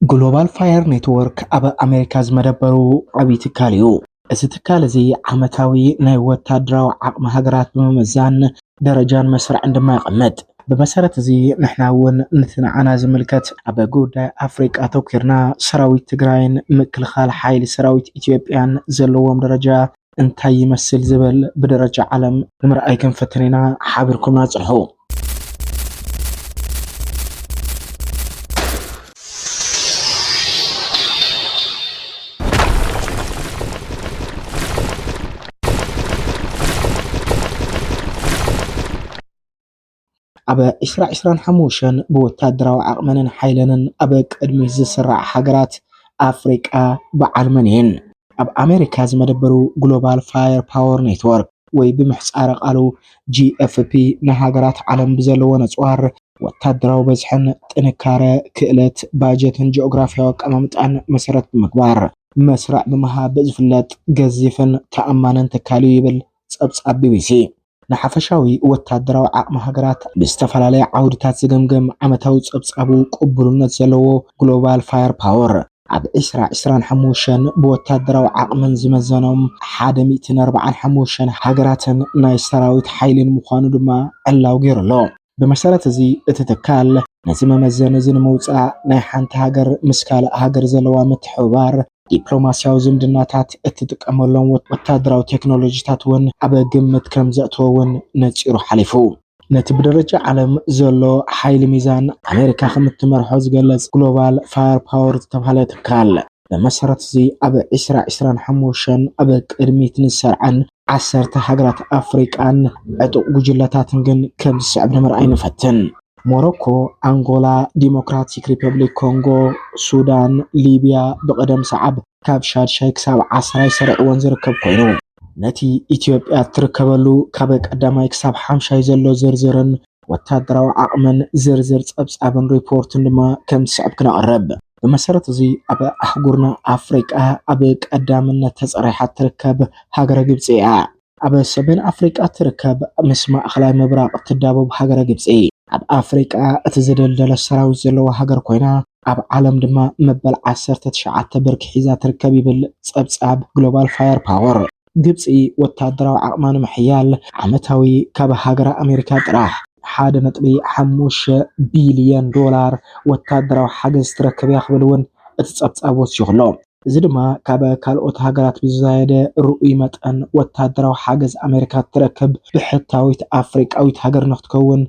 ግሎባል ፋየር ኔትወርክ ኣብ ኣሜሪካ ዝመደበሩ ዓብዪ ትካል እዩ። እዚ ትካል እዚ ዓመታዊ ናይ ወታደራዊ ዓቕሚ ሃገራት ብምምዛን ደረጃን መስርዕን ድማ የቐምጥ። ብመሰረት እዚ ንሕና እውን ነቲ ንዓና ዝምልከት ኣብ ጉዳይ ኣፍሪቃ ኣተኲርና ሰራዊት ትግራይን ምክልኻል ሓይሊ ሰራዊት ኢትዮጵያን ዘለዎም ደረጃ እንታይ ይመስል ዝበል ብደረጃ ዓለም ንምርኣይ ክንፍትን ኢና። ሓቢርኩምና ጽንሑ። ኣብ ዕስራ ዕስራን ሓሙሸን ብወታደራዊ ዓቕመንን ሓይለንን ኣብ ቅድሚት ዝስራዓ ሃገራት ኣፍሪቃ በዓል መን እየን? ኣብ ኣመሪካ ዝመደበሩ ግሎባል ፋየር ፓወር ኔትወርክ ወይ ብምህጻረ ቃሉ GFP ንሃገራት ዓለም ብዘለወን ኣጽዋር፣ ወታደራዊ በዝሕን፣ ጥንካረ፣ ክእለት፣ ባጀትን ጂኦግራፍያዊ ኣቀማምጣን መሰረት ብምግባር መስርዕ ብምሃብ ዝፍለጥ ገዚፍን ተኣማንን ትካል እዩ ይብል ጸብጻብ ቢቢሲ። ንሓፈሻዊ ወተሃደራዊ ዓቕሚ ሃገራት ብዝተፈላለየ ዓውድታት ዝገምገም ዓመታዊ ጸብጻቡ ቅቡልነት ዘለዎ ግሎባል ፋየር ፓወር፣ ኣብ ዕስራ ዕስራን ሓሙሽተን ብወተሃደራዊ ዓቕመን ዝመዘኖም ሓደ ሚእትን ኣርብዓን ሓሙሽተን ሃገራትን ናይ ሰራዊት ሓይሊን ምዃኑ ድማ ዕላዊ ገይሩ ኣሎ። ብመሰረት እዚ እቲ ትካል ነዚ መመዘኒ እዚ ንምውፃእ ናይ ሓንቲ ሃገር ምስ ካልእ ሃገር ዘለዋ ምትሕብባር፣ ዲፕሎማሲያዊ ዝምድናታት፣ እትጥቀመሎም ወታደራዊ ቴክኖሎጂታት እውን ኣብ ግምት ከምዘእተወ እውን ነፂሩ ሓሊፉ። ነቲ ብደረጃ ዓለም ዘሎ ሓይሊ ሚዛን ኣሜሪካ ከምትመርሖ ዝገለፅ ግሎባል ፋየር ፓወር ዝተብሃለ ትካል፣ ብመሰረት እዚ ኣብ ዕስራ ዕስራን ሓሙሽተን ኣብ ቅድሚት ንዝሰርዓን ዓሰርተ ሃገራት ኣፍሪቃን ዕጡቕ ጉጅለታትን ግን ከም ዝስዕብ ንምርኣይ ንፈትን። ሞሮኮ፣ ኣንጎላ፣ ዲሞክራቲክ ሪፐብሊክ ኮንጎ፣ ሱዳን፣ ሊብያ ብቕደም ሰዓብ ካብ ሻድሻይ ክሳብ ዓስራይ ሰሪዕወን ዝርከብ ኮይኑ፣ ነቲ ኢትዮጵያ እትርከበሉ ካብ ቀዳማይ ክሳብ ሓምሻይ ዘሎ ዝርዝርን ወታደራዊ ዓቕምን ዝርዝር ጸብጻብን ሪፖርትን ድማ ከም ዝስዕብ ክነቕርብ። ብመሰረት እዚ ኣብ ኣህጉርና ኣፍሪቃ ኣብ ቀዳምነት ተጸሪሓ እትርከብ ሃገረ ግብጺ እያ። ኣብ ሰሜን ኣፍሪቃ እትርከብ ምስ ማእከላይ ምብራቕ እትዳቦብ ሃገረ ግብጺ፣ ኣብ ኣፍሪቃ እቲ ዝደልደለ ሰራዊት ዘለዋ ሃገር ኮይና፣ ኣብ ዓለም ድማ መበል ዓሰርተ ትሽዓተ ብርኪ ሒዛ ትርከብ ይብል ጸብጻብ ግሎባል ፋየር ፓወር። ግብፂ ወታደራዊ ዓቕማ ንምሕያል ዓመታዊ ካብ ሃገረ ኣሜሪካ ጥራሕ ሓደ ነጥቢ ሓሙሽተ ቢሊየን ዶላር ወታደራዊ ሓገዝ ትረክብ እያ ክብል እውን እቲ ፀብፃብ ወሲኹ ኣሎ። እዚ ድማ ካብ ካልኦት ሃገራት ብዝዛየደ ርኡይ መጠን ወታደራዊ ሓገዝ ኣሜሪካ እትረክብ ብሕታዊት ኣፍሪቃዊት ሃገር ንክትከውን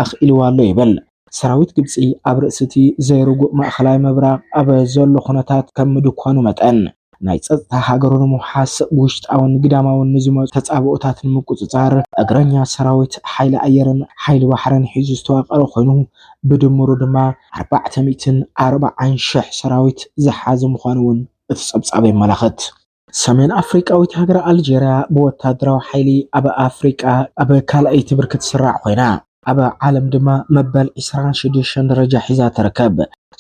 ኣኽኢልዋ ኣሎ ይብል። ሰራዊት ግብፂ ኣብ ርእሲ እቲ ዘይርጉእ ማእኸላይ ምብራቕ ኣብ ዘሎ ኩነታት ከም ምድኳኑ መጠን፣ ናይ ፀፅታ ሃገሩ ንምውሓስ ብውሽጣውን ግዳማውን ንዝመፁ ተፃብኦታት ንምቁፅፃር እግረኛ ሰራዊት፣ ሓይሊ ኣየርን ሓይሊ ባሕርን ሒዙ ዝተዋቀረ ኮይኑ ብድምሩ ድማ ኣርባዕተ ሚእትን ኣርባዓን ሽሕ ሰራዊት ዝሓዘ ምዃኑ እውን እቲ ፀብፃብ የመላኽት። ሰሜን ኣፍሪቃዊት ሃገረ ኣልጀርያ ብወታደራዊ ሓይሊ ኣብ ኣፍሪቃ ኣብ ካልኣይቲ ብርኪ ትስራዕ ኮይና፣ ኣብ ዓለም ድማ መበል ዕስራን ሽዱሽተን ደረጃ ሒዛ ትርከብ።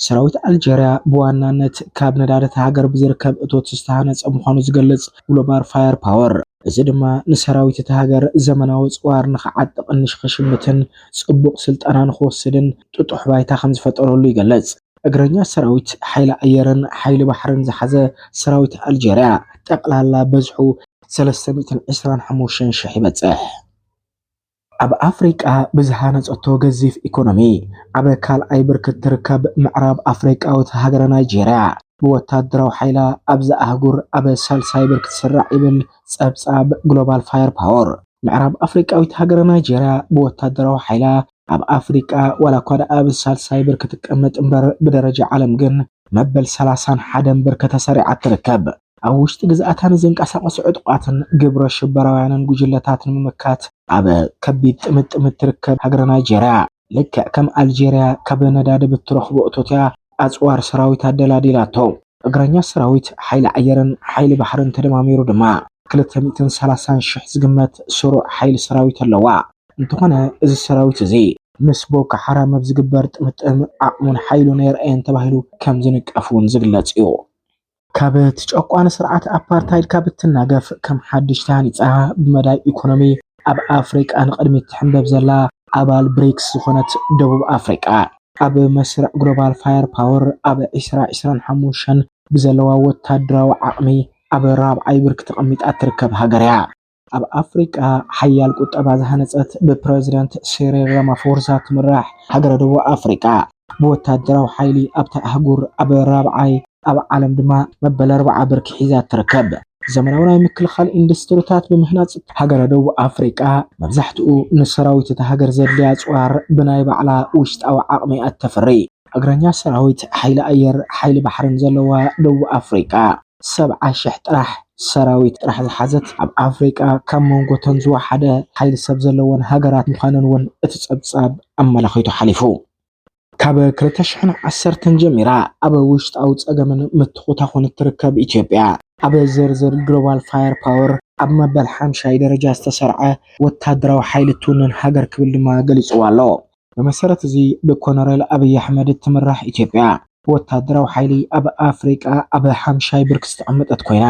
ሰራዊት ኣልጀርያ ብዋናነት ካብ ነዳዲ እታ ሃገር ብዝርከብ እቶት ዝተሃነፀ ምዃኑ ዝገልፅ ግሎባል ፋየር ፓወር፣ እዚ ድማ ንሰራዊት እታ ሃገር ዘመናዊ ኣፅዋር ንክዓጥቕን ንሽክሽምትን ፅቡቕ ስልጠና ንክወስድን ጥጡሕ ባይታ ከምዝፈጠረሉ ይገለፅ። እግረኛ ሰራዊት፣ ሓይሊ ኣየርን ሓይሊ ባሕርን ዝሓዘ ሰራዊት ኣልጀርያ ጠቕላላ በዝሑ ሰለስተ ሚእትን ዕስራን ሓሙሽተን ሽሕ ይበፅሕ። ኣብ ኣፍሪቃ ብዝሃነጸቶ ገዚፍ ኢኮኖሚ ኣብ ካልኣይ ብርኪ እትርከብ ምዕራብ ኣፍሪቃዊት ሃገረ ናይጀርያ፣ ብወታደራዊ ሓይላ ኣብዛ ኣህጉር ኣብ ሳልሳይ ብርኪ ትስራዕ ይብል ጸብጻብ ግሎባል ፋየር ፓወር። ምዕራብ ኣፍሪቃዊት ሃገረ ናይጀርያ ብወታደራዊ ሓይላ ኣብ ኣፍሪቃ ዋላኳ ድኣ ኣብ ሳልሳይ ብርኪ ትቀመጥ እምበር ብደረጃ ዓለም ግን መበል ሰላሳን ሓደን ብርኪ ተሰሪዓ ትርከብ። ኣብ ውሽጢ ግዝኣታ ንዝንቀሳቐሱ ዕጡቓትን ግብረ ሽበራውያንን ጉጅለታት ንምምካት ኣብ ከቢድ ጥምጥም እትርከብ ሃገረ ናይጀርያ፣ ልክዕ ከም ኣልጀርያ ካብ ነዳዲ ብትረኽቦ እቶት እያ ኣጽዋር ሰራዊት ኣደላዲላቶ። እግረኛ ሰራዊት፣ ሓይሊ ኣየርን ሓይሊ ባሕርን ተደማሚሩ ድማ ክልተ ሚእትን ሰላሳን ሽሕ ዝግመት ስሩዕ ሓይሊ ሰራዊት ኣለዋ። እንተኾነ እዚ ሰራዊት እዚ፣ ምስ ቦኮ ሓራም ኣብ ዝግበር ጥምጥም ዓቕሙን ሓይሉን ኣየርኣየን ተባሂሉ ከም ዝንቀፍ'ውን ዝግለጽ እዩ። ካብ እቲ ጨቋኒ ስርዓት ኣፓርታይድ ካብ እትናገፍ ከም ሓድሽ ተሃኒጻ ብመዳይ ኢኮኖሚ ኣብ ኣፍሪቃ ንቕድሚት ትሕምበብ ዘላ ኣባል ብሪክስ ዝኾነት ደቡብ ኣፍሪቃ፣ ኣብ መስርዕ ግሎባል ፋየር ፓወር ኣብ ዕስራ ዕስራን ሓሙሽተን ብዘለዋ ወታደራዊ ዓቕሚ ኣብ ራብዓይ ብርኪ ተቐሚጣ እትርከብ ሃገር'ያ። ኣብ ኣፍሪቃ ሓያል ቁጠባ ዝሃነጸት ብፕረዚደንት ሲሪል ራማፎርሳ ትምራሕ ሃገረ ደቡብ ኣፍሪቃ፣ ብወተሃደራዊ ሓይሊ ኣብታ ኣህጉር ኣብ ራብዓይ፣ ኣብ ዓለም ድማ መበል ኣርብዓ ብርኪ ሒዛ ትርከብ። ዘመናዊ ናይ ምክልኻል ኢንዱስትሪታት ብምህናጽ፣ ሃገረ ደቡብ ኣፍሪቃ መብዛሕትኡ ንሰራዊት እታ ሃገር ዘድልያ ኣጽዋር ብናይ ባዕላ ውሽጣዊ ዓቕሚ እያ እተፍሪ። እግረኛ ሰራዊት፣ ሓይሊ ኣየር፣ ሓይሊ ባሕሪን ዘለዋ ደቡብ ኣፍሪቃ፣ ሰብዓ ሽሕ ጥራሕ ሰራዊት ጥራሕ ዝሓዘት ኣብ ኣፍሪቃ ካብ መንጎ'ተን ዝወሓደ ሓይሊ ሰብ ዘለወን ሃገራት ምዃነን'ውን እቲ ጸብጻብ ኣመላኺቱ ሓሊፉ። ካብ ክልተ ሽሕን ዓሰርተን ጀሚራ ኣብ ውሽጣዊ ጸገምን ምትኹታኹን እትርከብ ኢትዮጵያ፣ ኣብ ዝርዝር ግሎባል ፋየር ፓወር ኣብ መበል ሓምሻይ ደረጃ ዝተሰርዐ ወተሃደራዊ ሓይሊ እትውንን ሃገር ክብል ድማ ገሊጽዋ ኣሎ። ብመሰረት እዚ ብኮነሬል ኣብይ ኣሕመድ እትምራሕ ኢትዮጵያ ብወታደራዊ ሓይሊ ኣብ ኣፍሪቃ ኣብ ሓምሻይ ብርኪ ዝተቐመጠት ኮይና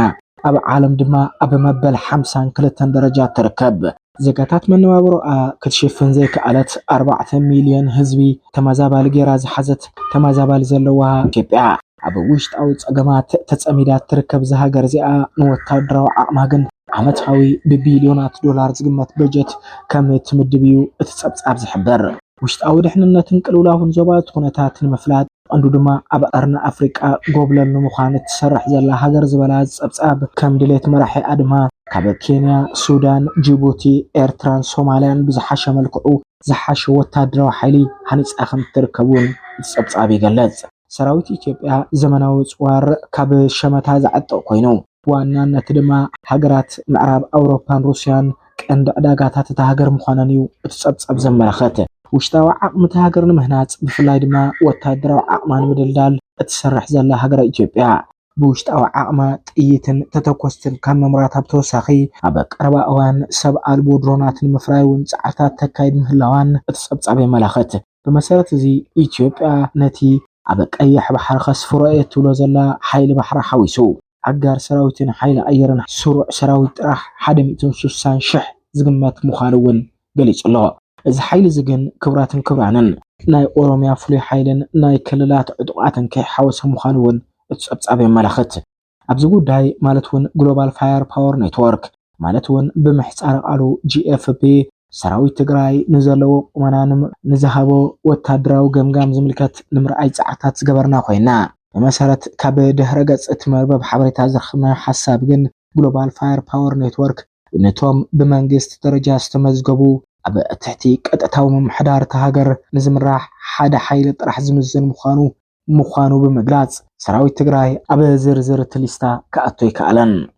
ኣብ ዓለም ድማ ኣብ መበል ሓምሳን ክልተን ደረጃ ትርከብ። ዜጋታት መነባብሮኣ ክትሽፍን ዘይከኣለት ኣርባዕተ ሚልዮን ህዝቢ ተመዛባሊ ገይራ ዝሓዘት ተመዛባሊ ዘለዋ ኢትዮጵያ፣ ኣብ ውሽጣዊ ጸገማት ተጸሚዳ እትርከብ እዛ ሃገር እዚኣ ንወተሃደራዊ ዓቕማ ግን ዓመታዊ ብቢልዮናት ዶላር ዝግመት በጀት ከም እትምድብ እዩ እቲ ጸብጻብ ዝሕብር። ውሽጣዊ ድሕንነትን ቅልውላውን ዞባ እቲ ኩነታት ንምፍላጥ ብቐንዱ ድማ ኣብ ቀርኒ ኣፍሪቃ ጎብለል ንምዃን እትሰርሕ ዘላ ሃገር ዝበላ እዚ ጸብጻብ፣ ከም ድሌት መራሒ ኣድማ ካብ ኬንያ፣ ሱዳን፣ ጂቡቲ፣ ኤርትራን ሶማልያን ብዝሓሸ መልክዑ ዝሓሸ ወተሃደራዊ ሓይሊ ሃኒጻ ከም እትርከብ'ውን እቲ ጸብጻብ ይገልጽ። ሰራዊት ኢትዮጵያ ዘመናዊ ፅዋር ካብ ሸመታ ዝዓጥቕ ኮይኑ፣ ብዋናነት ድማ ሃገራት ምዕራብ ኣውሮፓን ሩስያን ቀንዲ ዕዳጋታት እታ ሃገር ምዃነን እዩ እቲ ፀብፃብ ዘመላኽት። ውሽጣዊ ዓቕሚ እታ ሃገር ንምህናፅ ብፍላይ ድማ ወታደራዊ ዓቕማ ንምድልዳል እትሰርሕ ዘላ ሃገረ ኢትዮጵያ፣ ብውሽጣዊ ዓቕማ ጥይትን ተተኮስትን ካብ ምምራታ ብተወሳኺ ኣብ ቀረባ እዋን ሰብ ኣልቦ ድሮናት ንምፍራይ እውን ጻዕርታት ተካይድ ምህላዋን እቲ ጸብጻብ የመላኽት። ብመሰረት እዚ ኢትዮጵያ ነቲ ኣብ ቀይሕ ባሕሪ ከስፍሮ እየ እትብሎ ዘላ ሓይሊ ባሕራ ሓዊሱ፣ ኣጋር ሰራዊትን ሓይሊ ኣየርን ስሩዕ ሰራዊት ጥራሕ ሓደ ሚእትን ሱሳን ሽሕ ዝግመት ምዃኑ እውን ገሊጹ ኣሎ። እዚ ሓይሊ እዚ ግን ክብራትን ክብራንን። ናይ ኦሮሚያ ፍሉይ ሓይልን ናይ ክልላት ዕጡቓትን ከይሓወሰ ምዃኑ እውን እቲ ጸብጻብ የመላኽት። ኣብዚ ጉዳይ ማለት እውን ግሎባል ፋየር ፓወር ኔትወርክ ማለት እውን ብምህጻረ ቃሉ GFP፣ ሰራዊት ትግራይ ንዘለዎ ቁመና ን ንዝሃቦ ወታደራዊ ገምጋም ዝምልከት ንምርኣይ ጻዕርታት ዝገበርና ኮይንና። ብመሰረት ካብ ድህረ ገጽ እቲ መርበብ ሓበሬታ ዝረኸብናዮ ሓሳብ ግን ግሎባል ፋየር ፓወር ኔትወርክ፣ ነቶም ብመንግስቲ ደረጃ ዝተመዝገቡ ኣብ ትሕቲ ቀጥታዊ ምምሕዳር እታ ሃገር ንዝምራሕ ሓደ ሓይሊ ጥራሕ ዝምዝን ምዃኑ ምዃኑ ብምግላጽ፣ ሰራዊት ትግራይ ኣብ ዝርዝር እቲ ሊስታ ክኣቱ ኣይከኣለን።